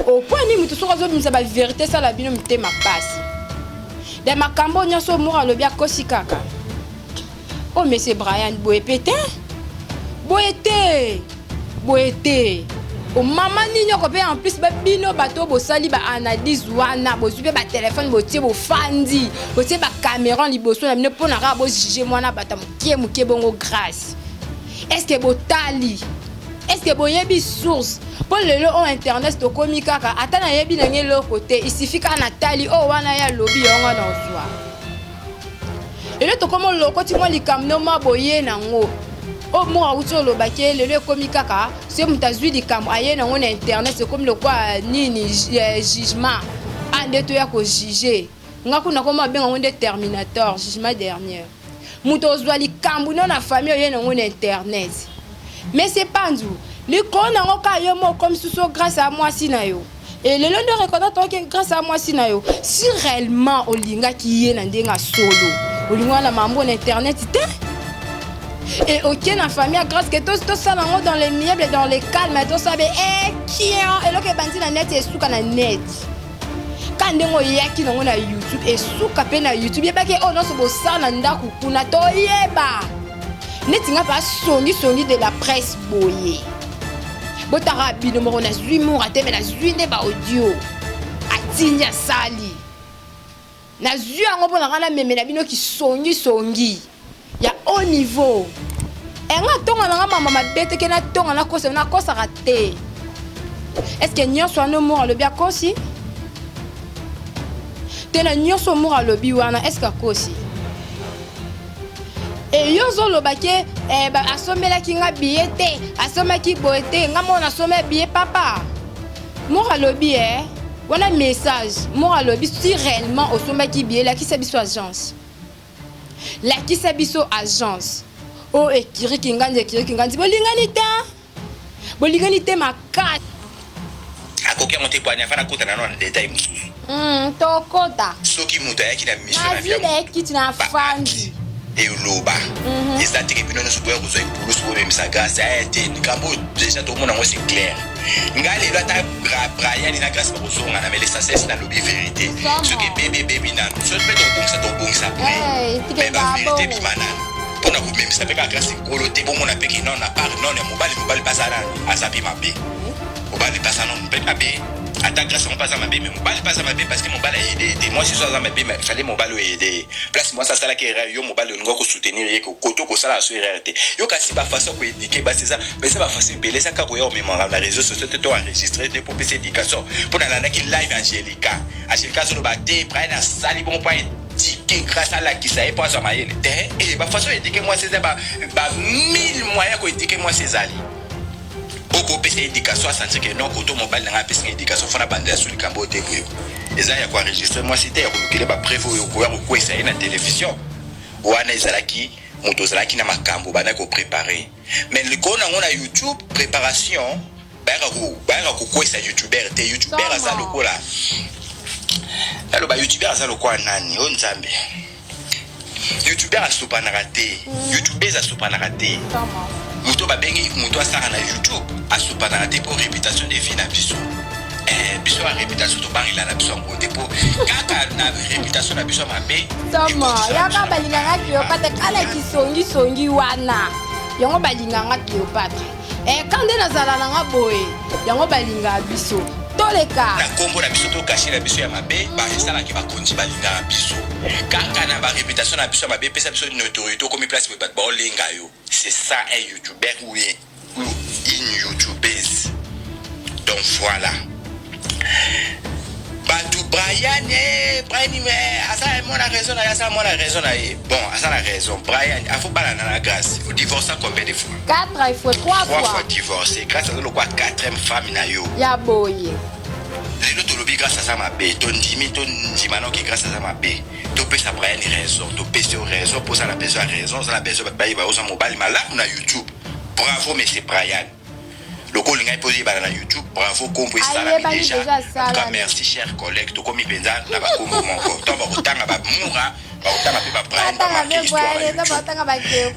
oponi moto soki azobimisa baverité esala bino mitema mpasi de makambo nyonso moko alobi akosi kaka o oh, monsieur brian boye mpe te boye te boye te omama oh, nini oko mpe en plus bino bato oyo bosali baanalyse wana bozwi mpe batelefone botie bofandi botie bacameron liboso na bino mpo na kaka bojuge mwana bato ya moke moke bongo grâce estce que botali eske boyebi source mpo lelo oyo internet tokomi kaka ata nayebi na nge eloko te isifi kaka natali oyo wana ye alobi yango na ozwa lelo tokomi olokoti mwa likambo no mwa boye nango oyo moko akuti olobaki ye lelo ekomi kaka soki moto azwi likambo aye nango na internet ekomi lokola nini eh, jugement a ah, nde toya kojuge nga kuna koma abenga ngo nde terminator jugement dernier moto ozwa likambo no na famille oye nango na internet mese panzu likolo nango ka yo mo okomi susu grâce ya mwasi na yo e lelo nde reconnaître oke grâce ya mwasi na yo si réellement olingaki ye na ndenge ya solo olingwa na mambo na internet te et oke na famille ya grâce ke tosala yango dans le miable dans le calme tosala be e eh, kian eloko ebandi na net esuka na net ka ndenge oyaki nango na youtube esuka mpe na youtube yebaki oyo oh, nyonso bosala na ndako kuna toyeba neti nga mpa songisongi de la presse boye botaka bino moko nazwi mora te me nazwi nde baaudio atindi asali Nazui yango mpo na ngai namemela bino kisongisongi ya haut niveau. Enga eh, tonga na ngai mama mabe teke natonga nakosa nakosaka te. Eske nyonso wana omora alobi akosi? Te na nyonso omora alobi wana eske akosi? eyo ozoloba ke eh, asombelaki nga biye te asombaki boye te nga moko nasomba biye papa Mora alobi eh wana message mora alobi si réellement osombaki billet lakisa biso agence lakisa biso agence o oh, ekiriki nganzi ekiriki nganzi bolingani te bolingani te makasi akoki yango te bwani afana kota na nona detail mosusu Mm, tokota. Soki moto ayaki na mission na vie ya kiti na fandi. Eloba. Mhm. Eza teke bino nyonso boya kozwa epulusu bomemisa grâce ya te likambo oyo déjà tokomona yango c'est clair ngai lelo ata brian na grâce bakozongana mais l'essentiel c'est nalobi vérité soki ebebi ebebi nano soki mpe tokobongisa tokobongisa après mais bavérité ebima nano mpo na komemisa mpe kaka grâce ekolo te bomona mpe ke non na part non ya mobali mobali bazala aza mpe mabe mobali mpe aza nanu mpe mabe ata grace yango mpe aza mabe me mobali mpe aza mabe parce que mobali ayede ye te mwasi ezo aza mabe me fale mobali oyo eyede ye place mwasi asalaki erreur yo mobali olingi okosoutenir ye koto okosala aso erreur te yo kasi bafaçon ya koedike basi eza eza bafaçon ebele eza kaka koya komemaka na réseau sociaux te to enregistre te mpo opesa éducation mpo nalandaki live angelica angelica azoloba te brian asali bongo mpo edike grâce alakisa ye mpo azwa mayele te eye bafaçon edike mwasi eza ba 1000 moyen koedike mwasi ezali oyo kopesa ye education asanti ke non koto mobali na ngai apesi ngai education fona banda ya suli kambo te boye eza ya koenregistre mwasi te ya kolukele bapreve oyo okoya kokwesa ye na televizio wana ezalaki moto ozalaki na makambo bandaki koprepare mais likolo nango na youtube préparation bayaka kokwesa youtuber te youtuber aza lokola naloba youtuber aza lokola nani oyo nzambe youtubeur asopanaka te mm. youtubese asopanaka te moto babengi moto asaka na youtube asopanaka te mpo réputation de vie na biso eh, biso ya réputation tobangela na biso yango te mpo kaka na réputation na biso ya mabe yaka balingaka cléopatre kala kisongisongi wana yango balingaka cléopatre Eh, quand nde nazala na nga boye yango balingaka biso toleka na nkombo na biso to kashe na biso ya mabe basalaki bakonzi balingaka biso kaka na bareputation na biso ya mabe epesa biso notoriété okomi place boye bato baolenga yo c'est ça un youtubeur ou une youtubeuse donc voilà bato brian eh, brian eh, aza mwana raison na ye aza mwana raison na ye bon aza na raison brian afo balana na grâce odivorsa combien de fois 4 il faut 3 fois 3 fois divorcé grâce aza lokwa 4e femme na yo ya boye lelo tolobi grâce aza mabe tondimi tondima noki grâce aza mabe topesa brian raison topesi yo raison mpo oza na besoin ya raison oza na besoin bato bayeba oza mobali malamu na youtube bravo monsieur brian lokola olingai mpe oyebana na youtube bravo kombo esalami deja tuka merci cher collègue tokomi mpenza na bakombo moko to bakotanga bamura bakotanga mpe babrahim bamarke histoire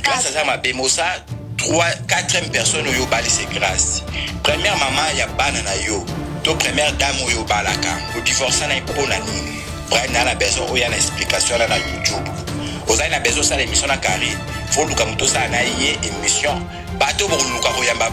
grâce aza mabe mosa 3 4 personne oyo obali se grâce première mama ya bana na yo to première dame oyo obalaka odivorsa na ye mpo na nini brahim naa na besoin oya na explication na na youtube ozali na besoin osala émission na carine foluka moto osala na ye émission Bato oyo bokoluka koyamba.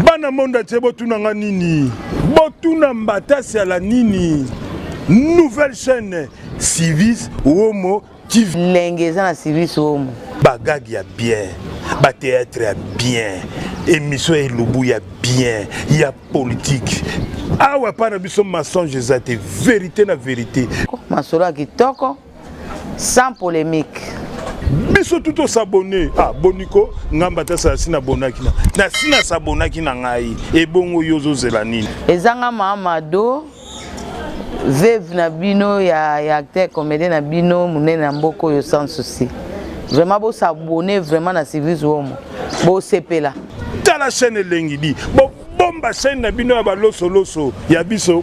bana monde atie botuna nga nini botuna mbatasi ya la nini nouvelle chaîne civis womo tv lenge eza na civis womo bagage ya bien bateatre ya bien émission ya elubu ya bien ya politique awa epai na biso mensonge eza te verité na verité masolo ya kitoko sans polemique biso tout to s'abonner ah boniko ngamba ta sa sina bonaki na na sina s'abonaki na ngai ebongo yo zo zela nini ezanga mama do veuve na bino ya ya acteur comédien na bino munene na mboko yo sans souci vraiment bo s'abonner vraiment na service womo bo sepela tala chaîne elengi di bo bomba chaîne na bino ya ba loso loso ya biso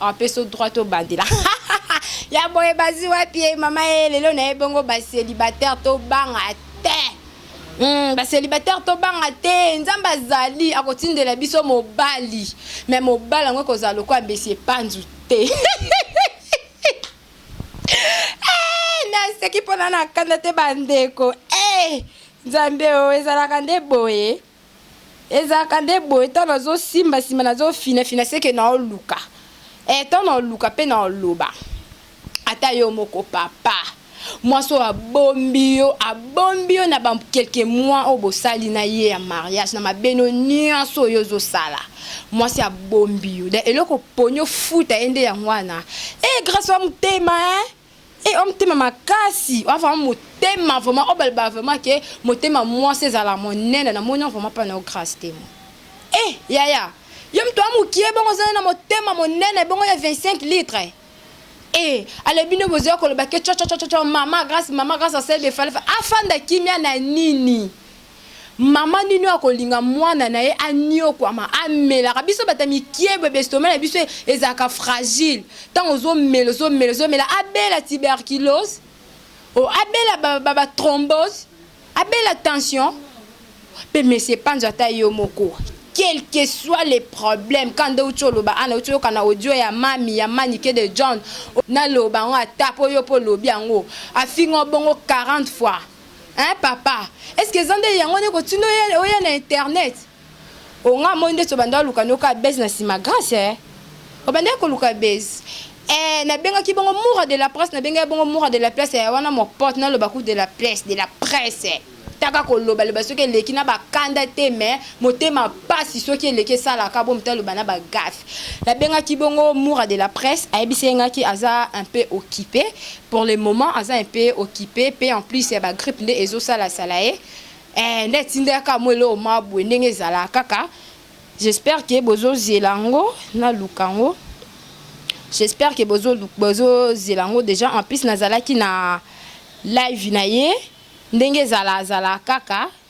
En plus au droit au bandela. ya boye bazi wapi ye mama ye lelo na ye bongo bacélibataire tobanga te mm, bacélibataire tobanga te nzambe azali akotindela biso mobali me mobali yango ekozala lokola mbesi epanzu te eh, naseki mpona na kanda te bandeko e eh, nzambe oyo ezalaka nde boye Ezalaka nde boye tango nazo simba simba nazo fina fina ce que nao luka eh tango nao luka pe nao loba ata yo moko papa mwasi oyo abombi yo abombi yo na ba quelques mois oyo bosali na ye ya mariage na mabe no nionso oyo ozo sala mwasi abombi yo donc eloko oponi ofuta ye nde yango wana eh grace oa motema hein. e eh, omotema oh, makasi oa oh, vraiment motema vraiment oyo oh, balobaka vraiment ke motema mwasi ezala monene na moni vraiment mpa na yo grace te mo e eh, yaya yo moto ya mokie bongo ozali na motema monene bongo ya 25 litre e alobi nde bozoya koloba ke cococococo mama grace mama grace asali befalefa afanda kimia na nini Maman nini oyo akolinga mwana na ye aniokwama, amelaka? Biso bata mikie boye b'estomac na biso ezalaka fragile. Tango ozo mela, ozo mela, ozo mela, abela tuberculose, oh abela ba ba thrombose, abela tension. Pe monsieur Panzu ata yo moko, quel que soit le problème, quand nde outi oloba awa, nauti oyoka na audio ya Mamy, ya Manike de John, naloba yango ata po yo pe olobi yango, afinga yo bongo 40 fois. Hein papa, est ce que eza nde yango nde ko tino oya na internet? Oh nga moi nde tobanda luka no ka buzz na sima grace eh. Obanda ko luka buzz. Eh na benga ki bongo mura de la presse na benga bongo mura de la place ya wana mon pote na loba ku de la place de la presse. Taka ko loba loba soki eleki na ba kanda te mais motema pasi soki eleki sala ka bom talo bana ba gaffe. Na benga ki bongo mura de la presse ayebisi nga ki aza un peu occupé Pour le moment aza un peu occupe pe en plus ya ba grippe nde ezo sala sala ye eh nde atinda ka mwa eloko mwa boye ndenge ezala kaka j'espère que bozo zela ngo na luka ngo j'espère que bozo bozo zela ngo déjà en plus nazalaki na live na ye ndenge ezala zala kaka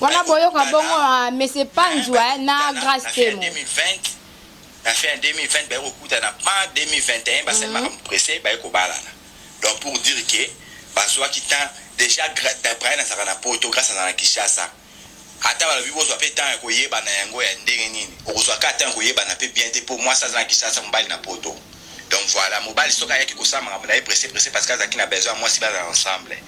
Wana boyoka bongo ah, monsieur Panzua eh, na Grace Temo. Na fin ya 2020 baye kokutana pas 2021 basali mhm. makambo presse baye kobalana donc pour dire que bazwaki temps déjà Brian azalaka na poto grâce azala na Kinshasa ata balobi bozwa mpe temps ya koyebana yango ya ndenge nini okozwa ka temps ya koyebana mpe bien te mpo mwasi aza na Kinshasa mobali na poto donc voilà mobali soki ayaki kosala makambo na ye presse presse parce que azalaki na besoin ya mwasi bazala ensemble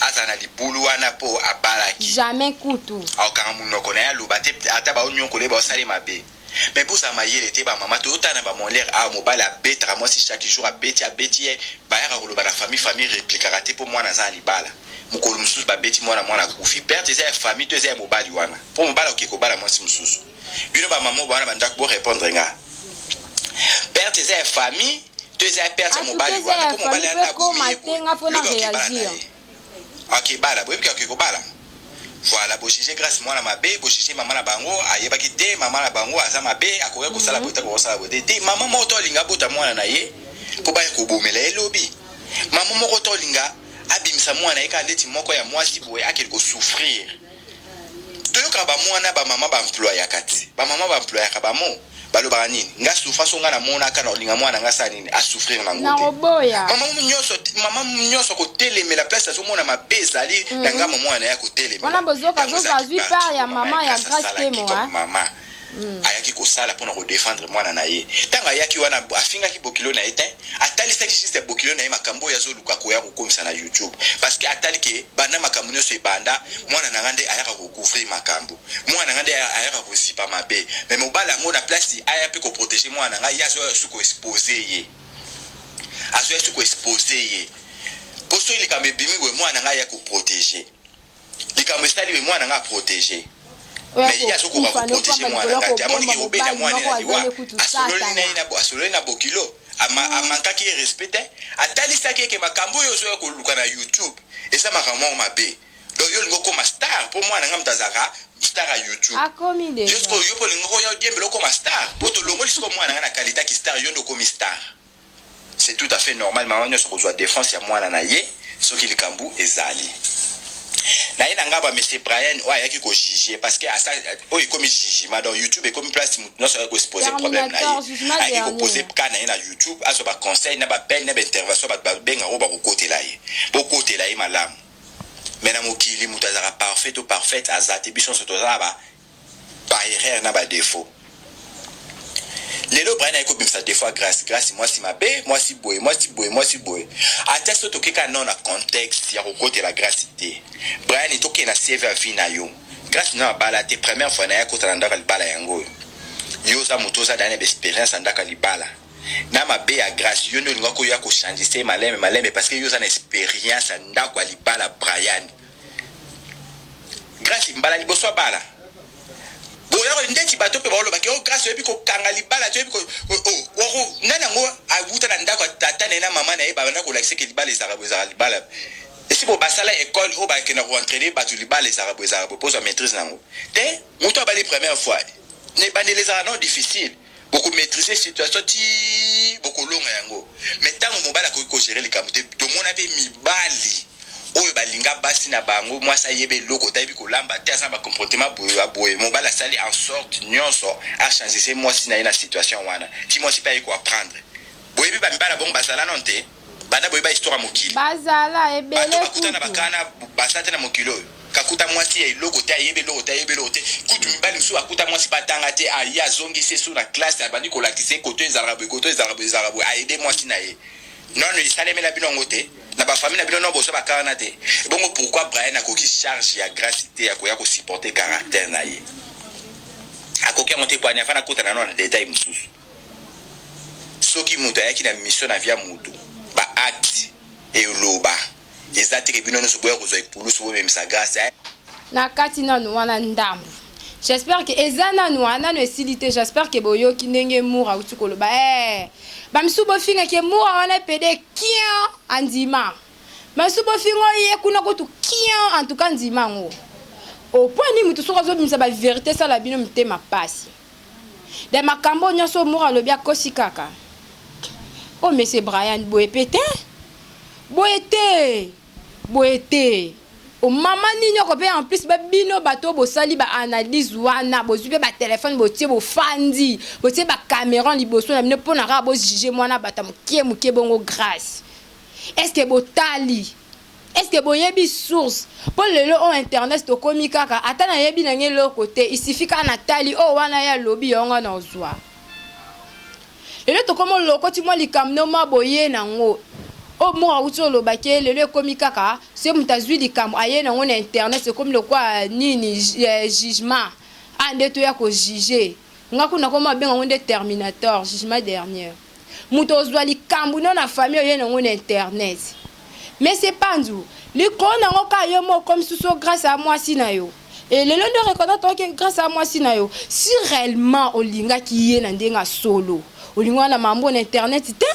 Azala na libulu wana po abalaki. Jamais kutu. Akokanga munoko naye aloba te ata bao niokola ye bao sala ye mabe. Mais bozala mayele te ba maman tozo tala na ba monlere awa mobali abetaka mwasi chaque jour abeti abeti ye bayaka koloba na famille famille replikaka te po mwana aza na libala mokolo mususu babeti mwana mwana akufi perte eza ya famille to eza ya mobali wana po mobali akoki kobala mwasi mususu. bino ba maman bana ba ndaku bo repondre nga perte eza ya famille to eza ya perte ya mobali wana po mobali wana akomi ye nga po na reagir akibala boyebi akoki kobala voilà bojuge grâce mwana mabe bojuge mama na bango ayebaki te mama na bango aza mabe akoki kosala boye te kokosala boye te te mama moko to alinga abota mwana na ye mpo baya kobomela ye lobi mama moko to alinga abimisa mwana ye kaka ndeti moko ya mwasi boye akeli kosouffrir toyokaka bamo wana bamama baemployaka te bamama baemployaka bamo balobaka nini nga souffrance oyo nga namonaka na olinga mwana nga asala nini asouffrir nango te nyonso mama nyonso kotelemela place azomona mabe ezali na nga mama wana ya kotelemela Mm. ayaki kosala mpona kodefendre mwana na ye ntango ayaki wana afingaki bokilo na ye te atalisaki juste bokilo na ye makambo oyo azoluka koya kokomisa na youtube parce que atali ke banda makambo nyonso ebanda mwana na nga nde ayaka kocouvrir makambo mwana na nga nde ayaka kozipa mabe mais mobali yango na place aya mpe koprotege mwana na ngai ye azoya su koexpose ye azoya su koexpose ye mpo soki likambo ebimi boye mwana na ngai aya koprotege likambo esali me mwana nga protege mais ye azokoka koprotege mwana nga te amoniki obeda mwana na liwa asololi na ye asololi na bokilo amankaki ye respect te atalisaki eke makambo oyo ozoya koluka na youtube eza makambo moko mabe donc yo olingi okoma star mpo mwana nga moto azalaka star ya youtube yo mpo olingi okoya odiembela okoma star mpo tolongoli siko mwana nga na kalita ki star yo nde okomi star C'est tout à fait normal maman nionso kozua defense ya muana na ye soki likambu ezali naye na nga ba monsieur Brian oyo ayaki ko juger parce que asa oyo ekomi jugement donc YouTube ekomi place mutu nionso ayaki ko se poser problème na ye ayaki ko poser cas na ye na YouTube azwa ba conseil na ba appel na ba intervention bato ba benga oyo bakokotela ye bokotela ye malamu mais na mokili mutu azalaka parfait to parfaite aza te biso nionso toza na ba ba erreur na ba defaut lelo Brian aye ko bimisa defaut ya Grace Grace mwasi mabe mwasi boye mwasi boye mwasi boye ata soki toke kaka nao na contexte ya ko kotela Grace te Brian to kende na CV ya vie nayo Grace nao abala te première fois naye akota na ndako ya libala yango oyo yo oza mutu oza dana ba experience ya ndako ya libala na mabe ya Grace yo nde olingaki oya ko change se malembe malembe parce que yo oza na experience ya ndako ya libala Brian Grace mbala liboso abala boya ko ndeti bato pe baoloba ke o Grace oyebi kokanga libala te oyebi ko o wako nani yango awuta na ndako ya tata na ye na mama na ye babanda kolakisa ke libala ezalaka boye ezalaka libala esi bo basala ekole oyo bakenda ko entraine bato libala ezalaka boye ezalaka boye pozwa maitrise na yango te moto abali première fois na ebandeli ezalaka nao difficile Boko maitriser situation ti boko longa yango mais tango mobali akoki ko gerer likambo te tomona pe mibali oyo balinga basi na bango mwasi ayeba eloko te ayebi kolamba te aza na ba comportement boye ya boye mobali asali en sorte nyonso a change se mwasi na ye na situation wana ti mwasi pe aye ko apprendre boyebi ba mibali ya bongo bazala non te banda boyeba histoire ya mokili bazala ebele bakuta na bakana baza te na mokili oyo kakuta mwasi ya eloko te ayebi eloko te ayebi eloko te kutu mibali mosusu akuta mwasi batanga te aye azongisi esu na klase abandi kolakisa ye koto ezalaka boye koto ezalaka boye ezalaka boye ayede mwasi na ye nono esalemela bino yango te na bafamile na bino no boza bakarana te ebongo pourkui brian akoki charge ya grace te ya koya kosupporte caractère na ye akoki yango te poani afana kota na no na detail mosusu Soki mutu ayaki na mission na vie ya mutu ba acte eloba eza te ke bino nionso boya kozua epulusu bomemisa grace eh. Na kati nanu wana ndambu. J'espère que eza nanu wana nanu esili te j'espère que boyoki ndenge Mura awuti koloba eh ba misusu bofinga ke Mura wana pede kian andima ba misusu bofinga ye kuna kutu kian en tout cas andima ngo au point nini mutu soki azobimisa ba verite esala bino mitema pasi de makambo nyonso mura alobi akosi kaka o oh, monsieur brian boye mpe te boye te boye te omama oh, nini oko mpe en plus ba bino bato oyo bosali baanalyse wana bozwi mpe batelefone botie bofandi botie bacameron liboso na bino mpo na kaka bojuge mwana bato ya moke moke bongo grace estce botali Est ce que boyebi source? Po lelo oyo internet tokomi kaka ata nayebi nanga eloko te il suffit kaka natali oyo wana ye alobi yango nga nazua. Lelo tokomi olokoti mua likambo nayo mua boye nango oyo moko awuti oloba ke lelo ekomi kaka soki mutu azui likambo aye nango na internet ekomi lokola nini jugement awa nde toya ko juger nga kuna nakomi abenga yango nde terminator jugement dernier. Moto ozwa likambu no na famille oye nango na internet. Monsieur Panzu, likolo nango ka yo moko okomi susu grace ya mwasi na yo. Et lelo nde reconnaitre oke grace ya mwasi na yo. Si réellement olingaki ye na ndenge ya solo, olingi wana mambo na internet te.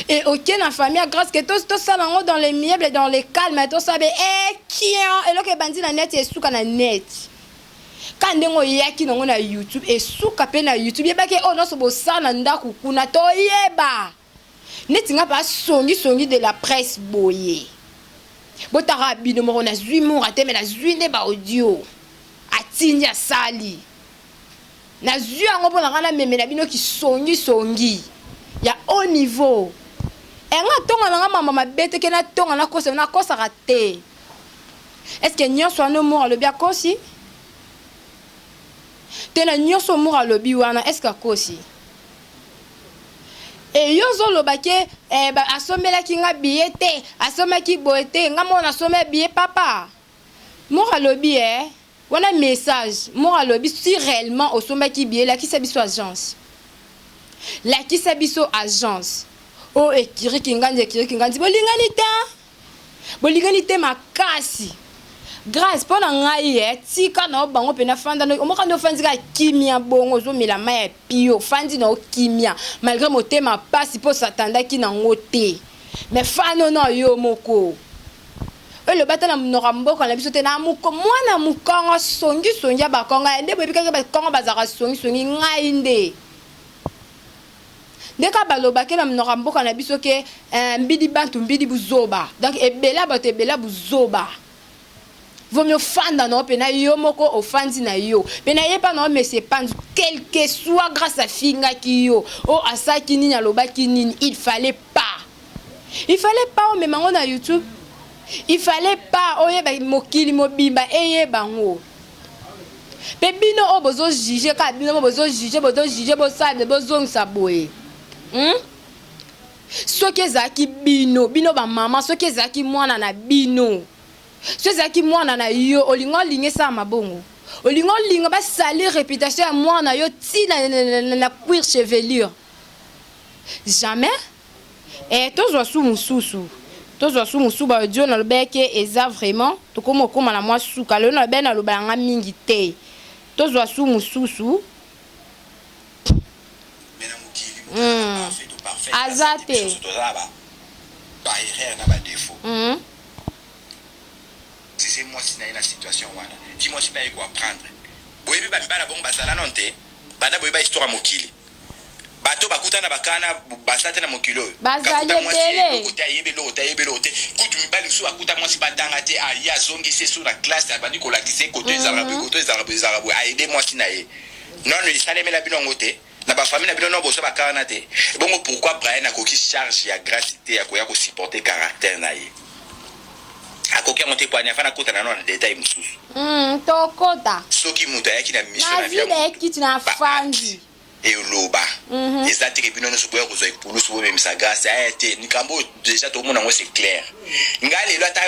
Et oke na famille ya grace ke to sala yango dans les miebles dans les calmes to sabe eh kian eloko ebandi na net esuka na net. Kaka ndenge oyaki nango na YouTube esuka pe na YouTube yeba ke oyo nionso bosala na ndaku kuna toyeba neti nga pa songi songi de la presse boye botaka bino moko nazui mura te me nazui nde ba audio atindi asali nazui yango pona nga namemela bino kisongi songi ya haut niveau enga tonga nanga mama mabete ke natonga nakosa nakosaka te Est-ce que nionso wana Mura alobi akosi? Te na nionso Mura alobi wana est-ce que akosi? Et yo zo loba ke eh, ba, asombelaki nga billet te, asomaki boye te, nga mona asomba billet papa. Mura alobi eh, wana message. Mura alobi si réellement osombaki billet, lakisa biso agence. Lakisa biso agence. Oh ekiriki nganzi, ekiriki nganzi, bolingani te. Bolingani te makasi. Grace pona ngai eh tika na yo bango pena fanda no omoka nde ofandi ka kimia bongo ozomela mai ya pio fandi na yo kimia malgré motema pasi po satandaki na ngo te mais fano na yo moko eloba ata na monoko ya mboka na biso te na moko mwana mokongo songisongi ya bakongo ya nde boyebi kaka bakongo bazalaka songisongi ngai nde Nde kaka baloba ke na monoko ya mboka na biso ke eh, mbidi bantu mbidi buzoba. Donc ebele ya bato ebele ya buzoba. Vaut mieux ofanda na yo pena yo moko ofandi na yo. Pena yeba na yo monsieur Panzu quel que soit grâce afingaki yo, oh asalaki nini alobaki nini, il fallait pas. Il fallait pas omema ngo na YouTube. Il fallait pas oyeba mokili mobimba eyeba ngo. Pe bino oyo bozo juge kaka bino mo bozo juge bozo juge bosala bozongisa boye. Hmm? Soki ezalaki bino, bino ba mama, soki ezalaki mwana na bino. Soki ezalaki mwana na yo, olingo olingi esala mabongo. Olingo olingo ba salir réputation ya mwana yo ti na, na, na, na, na cuir chevelure. Jamais Eh tozwa su mususu tozwa su mususu ba audio na lobela ke eza vraiment tokomi kokoma na mwa suka lelo na lobela na loba yanga mingi te tozwa su mususu Hum aza te Hum mwasi na ye na situation wana ti mwasi pe aye ko apprendre boyebi ba mibala bongo bazala nano te Banda boyeba histoire ya mokili bato bakutana na bakana baza te na mokili oyo bazali ebele te ayebi eloko te ayebi eloko te kutu mibali mosusu bakuta mwasi batanga te aye azongisi esu na classe abandi kolakisa ye koto ezalaka boye koto ezalaka boye ezalaka boye aide mwasi na ye nono esalemela bino yango te na bafamile na bino no boza bakarana te ebongo pourkui brian akoki charge ya grace te ya koya kosupporte caractère na ye akoki yango te po aniava nakota nano na detail mosusu mm, tokota soki moto ayaki na mission na vie ya kitu na fandi eloba mhm. eza te ke bino nyonso boya kozwa ekulusu bomemisa grâce aya eh, te likambo oyo déjà tomona yango c'est clair ngai lelo ata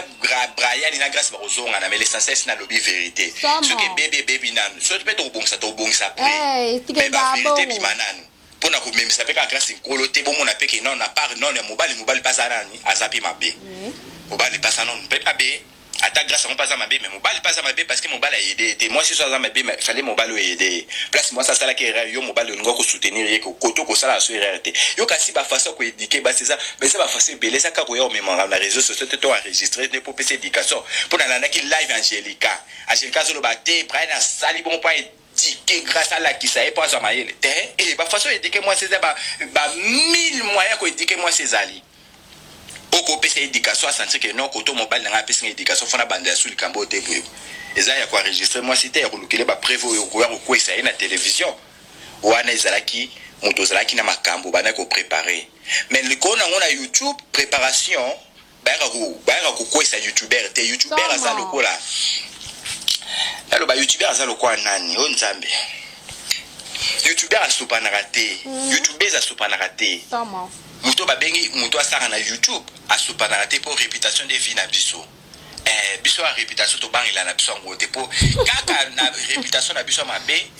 brian na grâce bakozongana mais l'essentiel si nalobi vérité soki ebebe ebebi nanu soki mpe tokobongisa tokobongisa premais eh, baverité bima nanu pona komemisa pe kaka classe nkolo te bomona pe ke non na part non ya mobali mobali pe aza nani aza pe mabe mobali pe aza non pe mabe ata grâce yango pe aza mabe mais mobali pe aza mabe parce que mobali ayede ye te mwasi so aza mabe mais fallait mobali oyede ye place mwasi asalaki erreur yo mobali olingi oko soutenir ye ke koto kosala so erreur te yo kasi ba façon ko eduquer basi eza mais eza ba façon ebele eza kaka koya omema makambo na réseaux sociaux te to enregistrer nde po pesa education pona nalandaki live ya angelica angelica azoloba te Brian asali bongo po Dike grace alakisa ye po azwa mayele te eh, ba façon edike mwasi eza ba, ba mille moyen ya ko edike mwasi ezali oko pesa education a sentir que non koto mobali na ngai apesi ngai education fona banda ya su likambo oyo te boye eza ya ko enregistrer mwasi te ya kolukele ba preuve oyo okoya kokwesa ye na television wana ezalaki moto ozalaki na makambo obandaki ko preparer mais likolo na yango na youtube preparation Bayaka ko bayaka ko kwesa youtuber te youtuber aza lokola Nalo ba youtuber aza lokola nani o nzambe youtuber asopanaka te mm. youtubers asopanaka te moto babengi moto asaka na youtube asopanaka te mpo réputation de vie na biso eh, biso ya réputation tobangela na biso yango te mpo kaka na réputation na biso ya mabe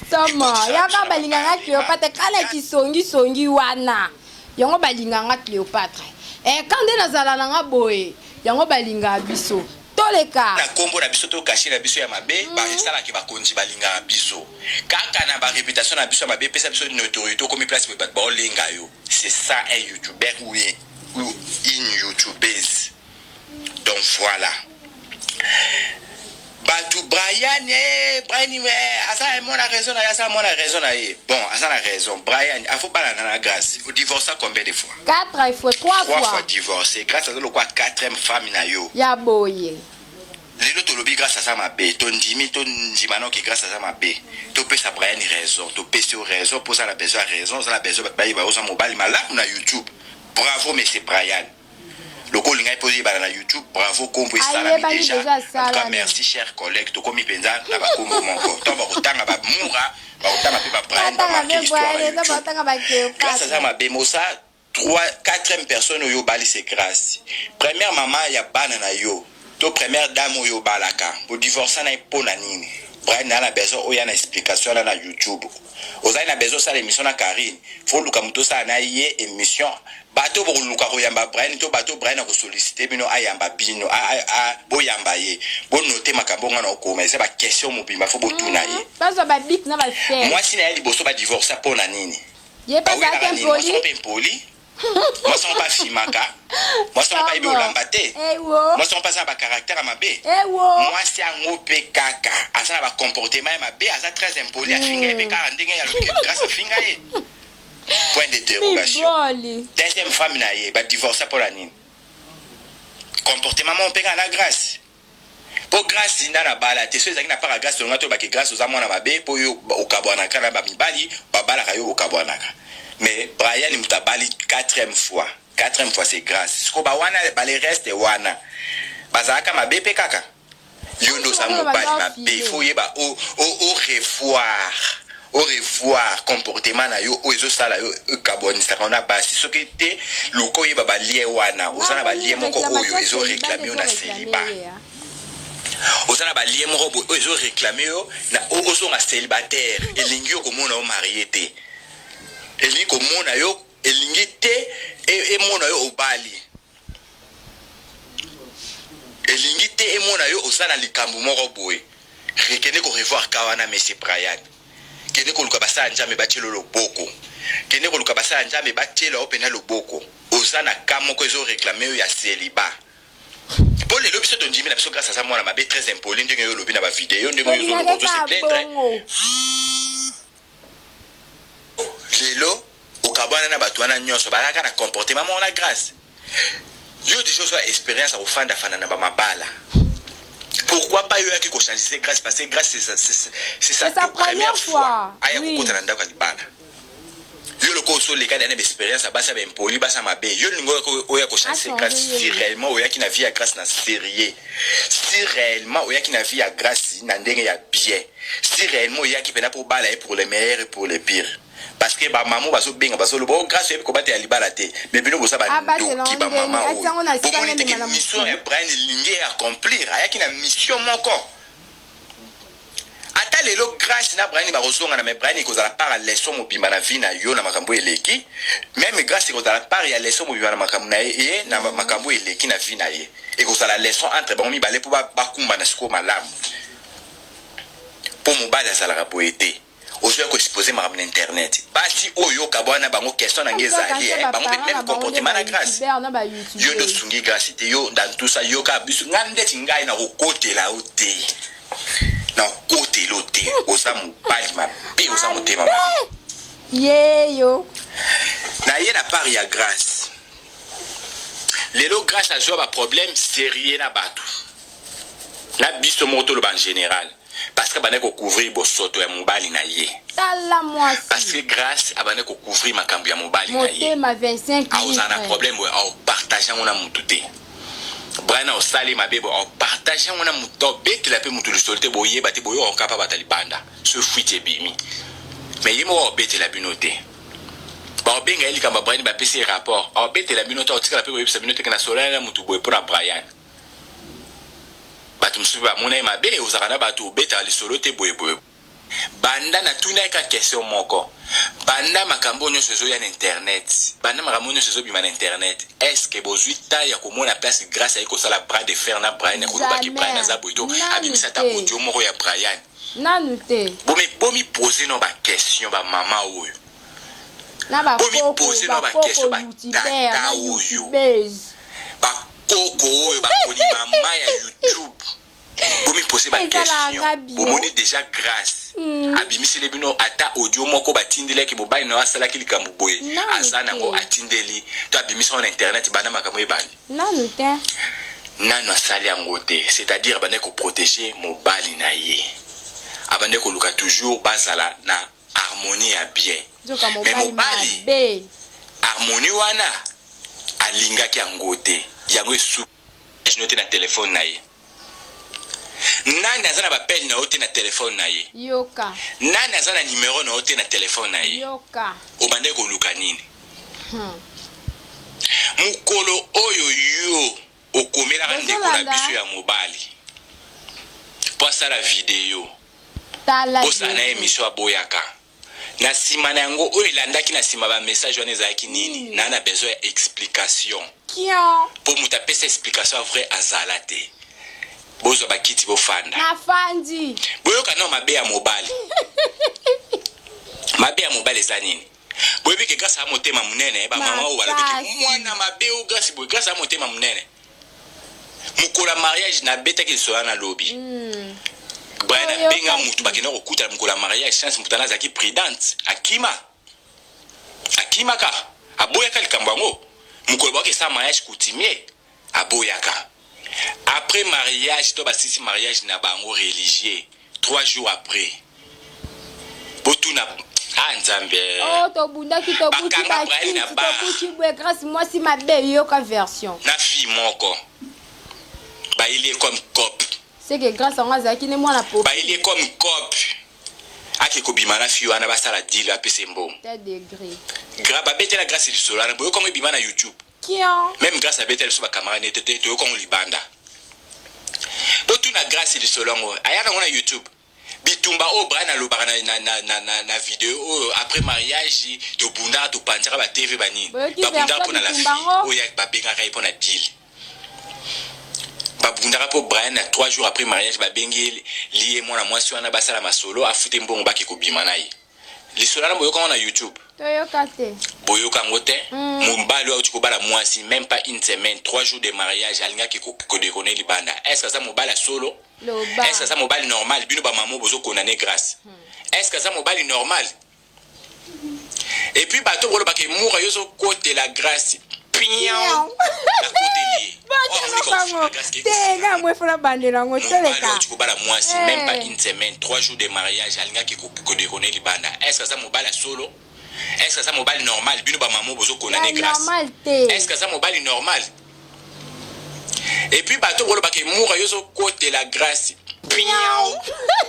yaka balingaka cleopatre kala kisongisongi wana Yango balinga nga Cleopatre eh quand nde nazala na nga boye yango balinga biso toleka na kombo na biso to cache na biso ya mabe mm. ba esala ke ba konzi balinga biso kaka na ba reputation na biso ya mabe pesa biso notoriété okomi place ba ba olenga yo c'est ça un youtubeur ou une youtubeuse Donc voila batu Brian eh, Brian eh, aza eh, mwana raison na ye aza mwana raison na ye bon aza na raison Brian afo bala na grâce o divorça combien de fois 4 fois 3 fois 3 fois divorcé grâce aza lokwa 4e femme na yo ya boye lelo tolobi grâce aza mabe tondimi tondima no ke grâce aza mabe topesa Brian raison topesi yo raison mpo oza na besoin raison oza na besoin bato bayiba oza mobali malamu na youtube bravo monsieur Brian lokola olingaki mpe oyebana na youtube bravo kombo esalami deja antuka merci cher collègue tokomi mpenza na bakombo moko ntango bakotanga bamura bakotanga mpe babrand bamarke histoire ya youtube grâce aza mabe mosa 3 4 personne oyo obali se grâce première mama ya bana na yo To première dame oyo obalaka bo divorca na ye pona nini? Brian naza na besoin oya na explication wana na youtube ozali na besoin osala emission na carine faut oluka mutu osala na ye emission batu oyo bokoluka koyamba Brian to batu oyo Brian ako sollicite bino ayamba bino boyamba ye bo note makambo nga nao koma eza ba question mobimba faut botuna ye mwasi na ye liboso ba divorca pona nini? Ye pe azalaka impoli. mwasi yango bafimaka mwasi yango bayebi olamba te mwasi yango mpe aza na bacaractère ya mabe mwasi yango mpe kaka aza na bacomportement ya mabe aza très impoli afinga ye mpe kaka ndenge alobi grâce afinga ye point d'interrogation deuxième femme na ye badivorce mpo na nini comportement moko mpe kaka na grâce Po grace zinda na bala te soki ezalaki na paka grace tolonga toyeba ke grace oza mwana mabe po yo okabuana ka na ba mibali babalaka yo okabuanaka mais Brian mutu abali quatrième fois quatrième fois c'est grace sikoyo ba wana ba les restes wana bazalaka mabe pe kaka yo nde oza mobali mabe faut oyeba o o o revoir o revoir comportement na yo oyo ezo sala yo ekabuanisaka yo na basi soki te luka oyeba ba lien wana oza na ba lien moko oyo ezo reclame yo na celibat oza na ba lien moko boye oyo ezo reclame yo na o- ozonga celibataire elingi yo komona yo marie te elingi komona yo elingi te e- emona yo obali elingi te emona yo oza na likambu moko boye re kende ko revoir ka wana monsieur Brian kende koluka basala ya nzambe batiela yo loboko kende koluka basala ya nzambe batiela yo pena loboko oza na cas moko ezo reclame yo ya celibat po lelo biso tondimi na biso grace aza mwana mabe très impoli ndenge yo olobi na ba video ndenge yo ozo loba ozo se plaindre Lelo okabwana na batu wana nionso baza kaka na comportement moko na grace yo dejà ozua experience ya kofanda fanda na ba mabala pourquoi pas yo oyaki ko change se grace parce que grace c'est sa tout première fois aya kokota na ndaku ya libala yo lokola oso leka dana ba experience ya basi ya ba impoli basi ya mabe yo olingi oya ko change se grace si réellement oyaki na vie ya grace na serieux si réellement oyaki na vie ya grace na ndenge ya bien Si reellement oyaki pena po obala ye pour le meilleur et pour le pire parce que ba mamu bazo benga bazo loba oh grace oyebi kobatela libala te mais bino boza ba ndoki ba mama oyo bomoni te ke mission ya Brian elingi e accomplir ayaki na mission moko ata lelo grace na Brian bakozongana mais Brian ekozala part ya leçon mobimba na vie na yo na makambo eleki meme grace ekozala part ya leçon mobimba na makambo na ye na makambo eleki na vie na ye ekozala leçon entre bango mibale po bakumbana sikoyo malamu po mobali azalaka boye te ozoya ko expose makambo na internet basi oyo yo okabola na bango question na nga ezali eh bango pe meme comportement na grace yo nde osungi grace te yo dantusa yo kaka biso nga ndeti ngai na kokotela yo te na kokotela yo te oza mobali mabe oza motema mabe yeyo na ye na part ya grace lelo grace azwa ba problème sérieux na bato na biso moko toloba en general parce que abandaki kocouvrir bosoto ya mobali na ye tala mwasi parce que grace abandaki kocouvrir makambo ya mobali na ye motema 25 akozala na problème boye aopartage yango na motu te brana osali mabe boye aopartage yango na motu obetela mpe motu lisolo te boyeba te boyoka kokapa bata libanda so efuiti ebimi me ye moko aobetela bino te baobenga ye likambo ya brani bapesi ye rapport aobetela bino te aotikala mpe koyebisa bino te ke na solani na motu boye mpo na brian Batu mususu pe bamona ye mabe ozalaka na batu obetaka lisolo te boye boye banda natuna ye kaka question moko banda makambu oyo nionso ezoya na internet banda makambu oyo nionso ezobima na internet est ce que bozui temps ya komona place grace aye kosala bras de fer na Bryan ya koloba ke Bryan aza boye to abimisa ata audio moko ya Bryan bomi bomi poser no ba question ba maman oyo bomi poser no ba question ba tata oyo ba Koko oyo bakoni mama ya YouTube bomi pose ba question bomoni deja grace hmm. abimiseli bino ata audio moko batindelaki mobali na yo asalaki likambo boye aza nango atindeli to abimisa ngo na internet banda makambo ebandi nanu te nanu asali yango te c'est-à-dire abandaki koprotege mobali na ye abandaki koluka toujours bazala na harmonie ya bien mais mobali harmonie wana alingaki yango te yango esuki no te na telefone na ye nani aza na bapele na yo te na telefone na ye yoka nani aza na nimero na yo te na telefone na ye yoka obandaki koluka nini hmm. mokolo oyo yo Okomelaka ndeko na biso ya mobali po asala video bosala naye emission aboyaka na sima na yango oyo elandaki na sima ba message wana ezalaki nini na na besoin ya explication po mutu apesa explication ya vrai azala te bozwa ba kiti bofanda boyoka nao mabe ya mobali mabe ya mobali eza nini Boyebi ke Grace aza motema munene, ba mama oyo balobi ke muana mabe oyo Grace boye, Grace aza motema munene. Mokolo ya mariage nabetaki lisolo wana lobi. Mm. Brian abenga mutu bakenda kokutana mokolo ya mariage, chance mutu wana azalaki prudente, akima. Akimaka, aboyaka likambo yango. Mokolo baoki esala mariage coutumier, aboyaka après mariage to basilisi mariage na bango religieux trois jours après botuna ah nzambe oh tobundaki tobuti bakiti tobuti boye grace mwasi mabe yoka version na fille moko bayelie comme cop seke grace yango azalaki ne mwana po bayelie comme cop ake kobima na fille wana basala deal apesa mbongo babetela grace lisolo wana boyokango ebima na youtube Meme Grace abetela biso ba camarade ne te te toyoka ngo libanda. Botuna Grace lisolo yango. Ayaka ngo na YouTube. Bitumba oyo Brian alobaka na, na, na, na, na, na video oyo après mariage tobundaka topanzaka ba TV ba nini babundaka mpo na la fille oyo babengaka ye mpo na deal babundaka mpo Brian na 3 jours après mariage babengi ye mwana mwasi wana basala masolo afute mbongo bake kobima na ye lisolo wana boyoka yango na youtube toyoka te boyoka yango te mm. mobali auti kobala mwasi meme pas une semaine trois jours de mariage alingaki kodekone libanda est ce que aza mobali ya solo est ce que aza mobali normal bino bamama bozokondane grâce mm. est ce que aza mobali normal epuis bato bolobaka emura yo ozokotela grâce pion nakoteli ye bakeno bango te nga mwefu na bandela yango toleka mobali kobala mwasi eh. même pas une semaine trois jours de mariage alingaki kodekone libanda est ce que aza mobali ya solo est ce que aza mobali normal bino bamamo bozokondane grâce est ce que aza mobali normal epuis bato kolobaka emura yo ozokotela grâce piau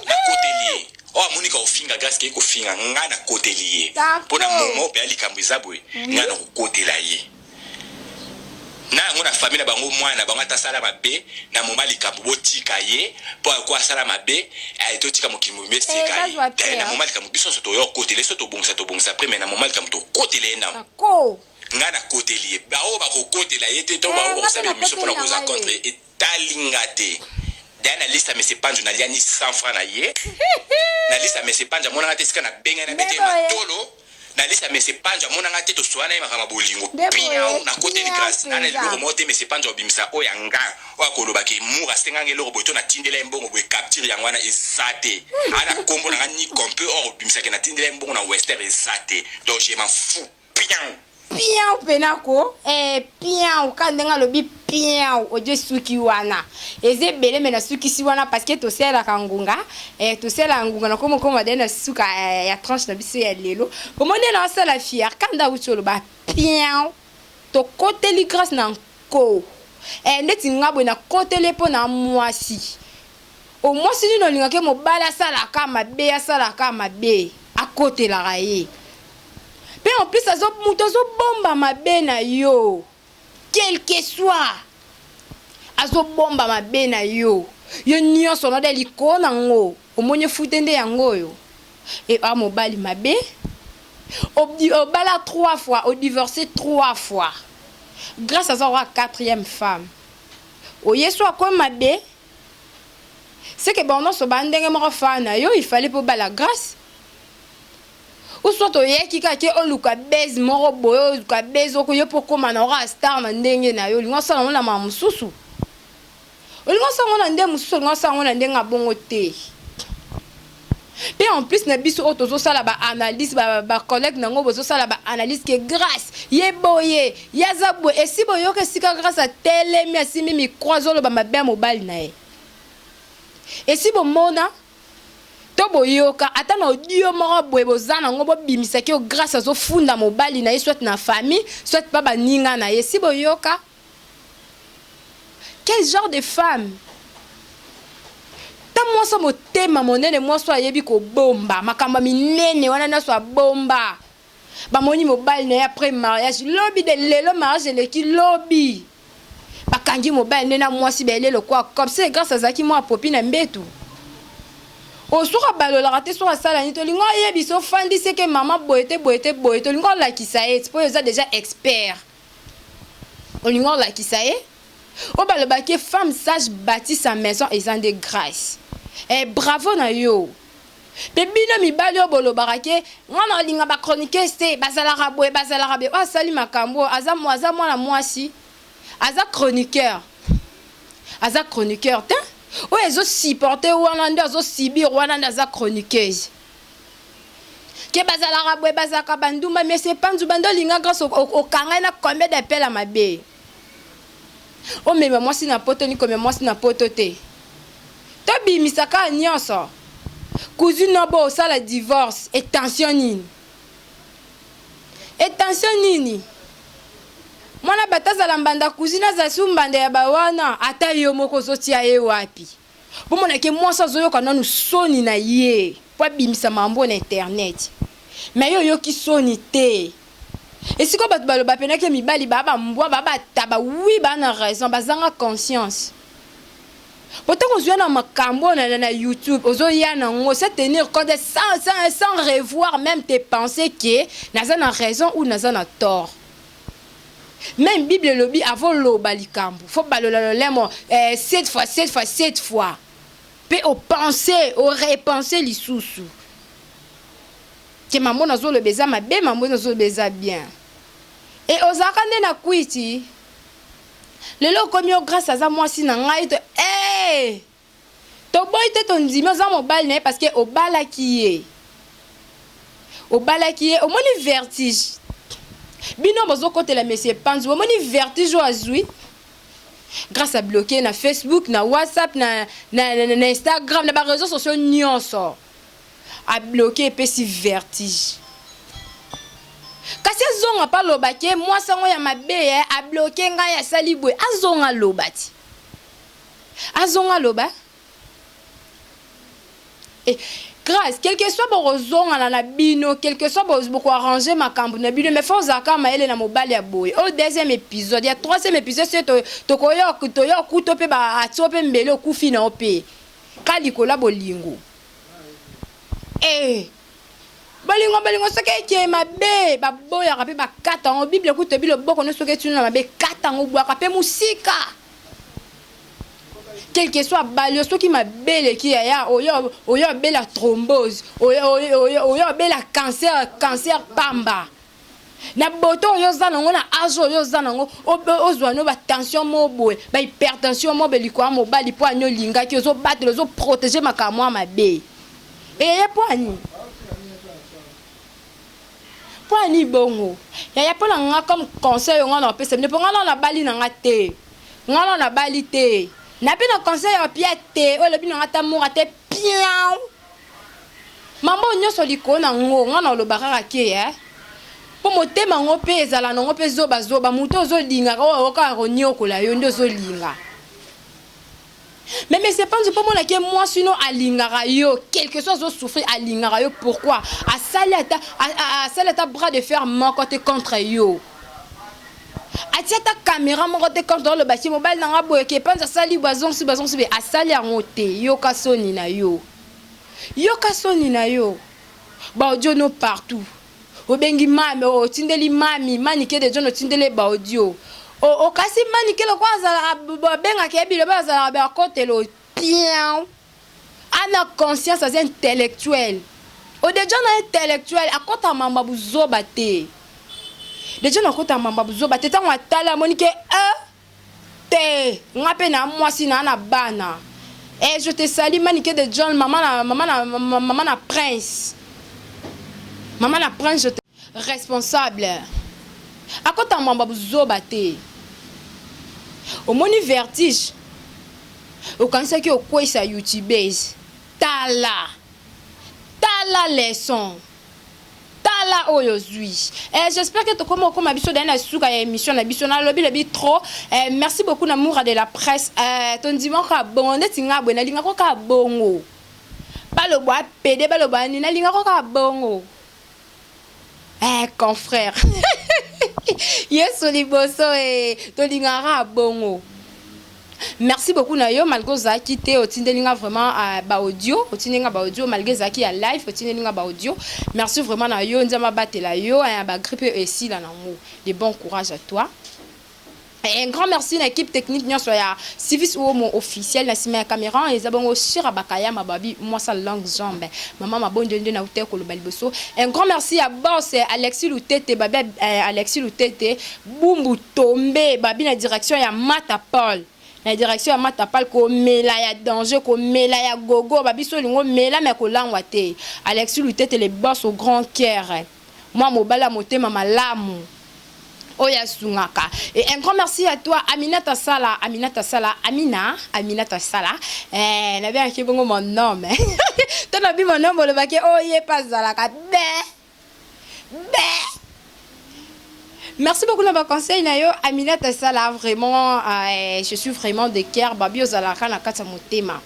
nakoteli ye oyo oh, amoni ka ofinga grâce kei kofinga ngai nakoteli ye mpo na momo mpe ya likambo eza boye ngai nakokotela ye na yango na famille na bango mwana na bango ata asala mabe na moma likambo botika ye mpo ako asala mabe eh, totika mokili mobimba eseka eh, ye tele na moma likambo biso nyonso toya okotela ye so tobongisa tobongisa apres mai na moma likambo tokotela ye nano ngai nakoteli ye baoyo bakokotela ye te to baoyo bakosala emission mpo na koza contre Talinga te Dany na liste ya monsieur Panzu na liani 100 francs na ye na liste ya monsieur Panzu amonanga te esika na bengani abeti ye matolo na liste ya monsieur Panzu amonanga te tosuana na ye makambo ya bolingo piau na koteli grace na na eloko moko te monsieur Panzu akobimisa oyo ya nga oyo akoloba ke mura asenganga eloko boye to na tindela ye mbongo boye capture yango wana eza te aza na kombo na nga ni compte oyo akobimisa ke na tindela ye mbongo na western eza te donc je m'en fous. piau piau pena ko eh, piau ka ndenge alobi piau odio esuki wana eza ebele me nasukisi wana parce que tosalelaka ngunga eh, tosalelaka ngunga na komo komo adali na suka eh, ya tranche na biso ya lelo omoni na osala fier ka nda auti oloba piau tokoteli grâce na nko eh, ndeti nga boye nakoteli ye mpo na mwasi Oyo mwasi nini olingaka ye mobali asala ka mabe asala ka mabe akotelaka ye pe en plus azo mutu azo bomba mabe na yo quelque soit azo bomba mabe na yo yo nionso na de likolo na ngo omoni efute nde ya ngo oyo e a mobali mabe obala trois fois o divorce trois fois grace aza kwa quatrième femme oyesu akomi mabe ce que bango nionso ba ndenge moko faa na yo il fallait pe obala grace ou soit oyaki kaka ke oluka buzz moko boye oluka buzz oko yo pe okoma na oka star na ndenge na yo olingi osala yango na mawa mosusu olingi osala yango na nde mosusu olingi osala yango na ndenge ya bongo te Pe en plus na biso oyo tozo sala ba analyse ba ba collegue na ngo bozo sala ba analyse que grace ye boye ye aza boye esi boyoka esika grace atelemi asimbi micro azo loba mabe ya mobali na ye esi bomona to boyoka ata na audio moko boye boza na ngo bobimisa ke grace azo funda mobali na ye soit na famille soit pa baninga na ye esi boyoka Quel genre de femme? Ta mwasi ya motema monene, mwasi oyo ayebi kobomba makambo ya minene wana nionso abomba. Bamoni mobali na ye après mariage, lobi de lelo mariage eleki lobi bakangi mobali nde na mwasi bayelie lokola comme ça grace azalaki mwa popi na mbetu. O soki abalolaka te soki asala nini tolingi oyebisa ofandisi ye ke mama boye te boye te boye tolingi olakisa ye ti po yo oza dejà expert. Olingi olakisa ye oyo baloba ke femme sage bati sa maison eza nde grace eh bravo na yo pe bino mibali oyo bolobaka ke nga na linga ba chroniqueuse te bazalaka boye bazalaka boye oyo asali makambo oyo aza aza mwana mwasi aza chroniqueur aza chroniqueur te oyo ezo supporte wana nde azo subir wana nde aza chroniqueuse ke bazalaka boye bazalaka bandumba monsieur panzu banda olinga grâce okanga na combien d'appel mabe omema mwasi na poto ni komema mwasi na poto te tobimisa kaka nyonso cousine na bo osala divorce e tension nini e tension nini mwana batazala mbanda cousine azala su mbanda ya bawana ata yo moko ozotia ye wapi Bomona ke mwasi azoyoka nanu soni na ye po abimisa makambo oyo na internet. Mais yo oyoki soni te. Esika oyo batu baloba pena ke mibali ba ba mbwa, ba ba taba, oui ba na raison, bazanga conscience. Po tango ozo ya na makambo oyo na na youtube, ozo ya na ngo sans tenir compte, sans, sans, sans revoir meme tes pensees ke naza na raison ou naza na tort. Meme bible elobi avant oloba likambu faut balola lolemo eh, cette fois cette fois cette fois pe o pense o repense lisusu ke mambo nazoloba eza mabe mambo nazoloba eza bien e ozalaka nde na kwiti lelo okomi o grace aza mwasi na ngai to eh Toboyi te tondimi oza mobali naye parce que obalaki ye obalaki ye omoni vertige bino bozokotela monsieur panzu bomoni vertige oyo azwi grâce à bloquer na Facebook na WhatsApp na, na, na, na Instagram na ba réseaux sociaux nyonso a bloquer epesi vertige kasi azonga pa loba ke mwasi yango ya mabe eh, a bloquer ngai asali boye azonga loba ti Azonga aloba eh, Grace, quelque soit bokozongana na bino, quelque soit boko arranger makambo na bino, mais faut ozalaka mayele na mobali ya boye. Oyo deuxième épisode, ya troisième épisode se to tokoyo toyo kuto pe ba atio pe mbele okufi na ope. Kali kola bolingo. Eh bolingo bolingo soki ekei mabe baboyaka mpe bakata yango bible kutu ebi loboko no soki etino na mabe kata yango bwaka mpe mosika quelque soit balio soki mabe eleki yaya oyo oyo abela thrombose oyo oyo oyo abela cancer cancer pamba na boto oyo oza nango na age oyo oza nango ozwa no batension moko boye bahypertension moko beliko ya mobali mpo ani olingaki ozobatela ozoprotege makambo ya mabe eye mpo ani mpo ani bongo yaya mpo na nga comme conseil yo nga na opesa bino mpo nga nao nabali na nga te nga nao nabali te na mpe na conseil ya pia te oyo elobi na nga ta mora te piau Mambo oyo nioso likolo na ngo nga na oloba kaka ke eh po motema ngo pe ezala na ngo pe zoba zoba mutu oyo ozo lingaka oyo akoki kaka ko niokola yo nde ozo linga mais monsieur Panzu po mona ke mwasi no alingaka yo quelque soit azo souffrir alingaka yo pourquoi asali ata asali ata bras de fer moko te contre yo atia ata kamera moko te quand oloba ki mobali na nga boye ke panza asali boye azongisi boye azongisi boye asali yango te yoka soni na yo yoka soni na yo baaudio no partout obengi mami otindeli mami manike de john otindeli ye baaudio okasi manike lokola azalaka babengaka ye biloba azalaka bakotelo piau Ana conscience aza intellectuel odeja na intellectuel akota mambo ya buzoba te deja nakota mambo ya buzoba te ntango atali amoni ke e eh, te nga mpe na mwasi naa na bana e eh, je te sali manike de john mama na, mama na, mama na prince mama na prince je te Responsable akota mambo ya buzoba te omoni vertige okanisaki okweyisa youtubese tala tala leçon tala oyo ozwi eh, j'espère que tokoma okoma biso dai na suka ya émission na biso nalobi lobi trop eh, merci beaucoup na moura de la presse eh, tondima kaka bongo ndeti nga boye nalingako kaka bongo baloba pede baloba nini nalingako kaka bongo Eh, confrère. Yesu liboso eh tolingaka bongo. Merci beaucoup na yo malgré ozalaki te otindeli nga vraiment uh, ba audio otindeli nga ba audio malgré ezalaki ya live otindeli nga ba audio merci vraiment na yo nzambe abatela yo eh, ba grippe esila nango de bon courage à toi Et un grand merci na équipe technique nionso ya Civis Uomo officiel na sima ya camera eza bongo Sura Bakaya Mababi mwasa langue zombe mama mabondo nde na uta koloba liboso un grand merci ya boss eh, Alexis Lutete babi eh, Alexis Lutete bumbu tombe babi na direction ya Mata Paul na direction ya Mata Paul komela ya danger komela ya gogo babiso lingo mela me kolangwa te Alexis Lutete le boss au grand cœur Mwana mobali ya motema malamu oyo asungaka et un grand merci à toi Aminata Sala Aminata Sala Amina Aminata Sala eh na bien ki bongo mon nom to na bi mon nom le baké oh ye pas zalaka be be Merci beaucoup na ba conseil na yo Aminata Sala vraiment euh, je suis vraiment de cœur babi ozalaka na kati ya motema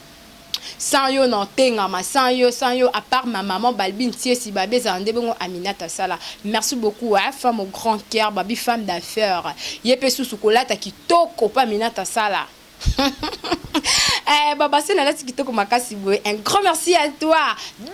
Sans yo na otengama sans yo sans yo à part ma maman balbine tsiesi babi ezala nde bongo aminata asala merci beaucoup hein femme au grand coeur babi femme d'affaire ye pe susu kolata kitoko pe aminata asala eh, baba se nalati kitoko makasi boye un grand merci à toi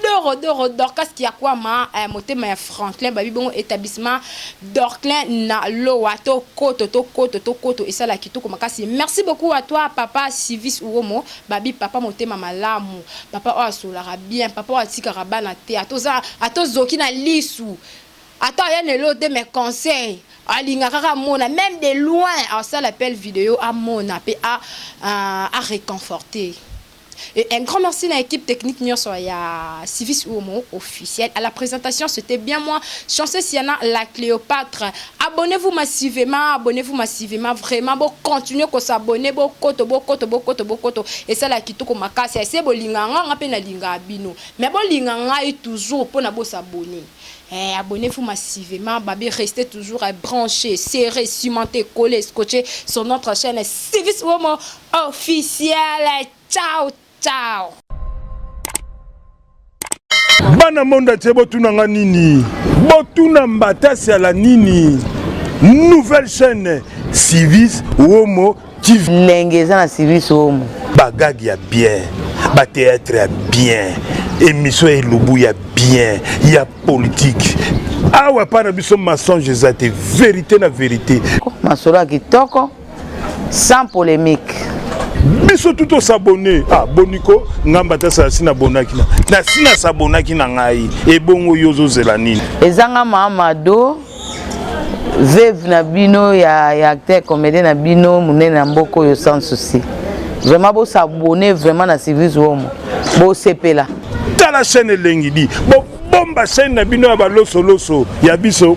doro doro dorcas kiakwama eh, motema ya franklin babi bongo établissement dorclin na lowa to koto to koto to koto esala kitoko makasi merci beaucoup à toi papa civis uomo Babi papa motema malamu papa oyo asololaka bien papa oyo atikaka bana te ata oza ata ozoki na lisu ata oya na eloko te mais conseil alinga kaka amona meme de loin asala appel video amona pe a, a, a reconforter Et un grand merci na équipe technique nyonso ya Civis Uomo officiel. À la présentation, c'était bien moi, Chanceux Siana, la Cléopâtre, Abonnez vous massivement, abonnez vous massivement vraiment bo continuer ko s'abonner bo koto bo koto bo koto bo koto esala kitoko makasi ese bo linga nga nga pe na linga bino mais bo linga ngai toujours pona bo s'abonner eh, abonnez vous massivement babe restez toujours eh, branché serré cimenté collé scotché sur notre chaîne Civis Womo officiel ciao Ciao. Bana monde entier botuna nga nini? Botuna mbatasi ya la nini? Nouvelle chaîne Civis Womo TV. Ndenge eza na Civis Womo. Bagagi ya bien, ba théâtre ya bien, émission elubu ya bien, ya politique. Awa pa na biso mensonge eza te, vérité na vérité. Masolo ya kitoko. sans polemique biso tout to s'abonner ah boniko ngamba ta sa sina bonaki na na sina s'abonaki na ngai ebongo yo zo zela nini ezanga mama do veuve na bino ya ya acteur comédien na bino munene na mboko yo sans souci vraiment bo s'abonner vraiment na service womo bo sepela tala chaîne elengi di bo bomba chaîne na bino ya ba loso loso ya biso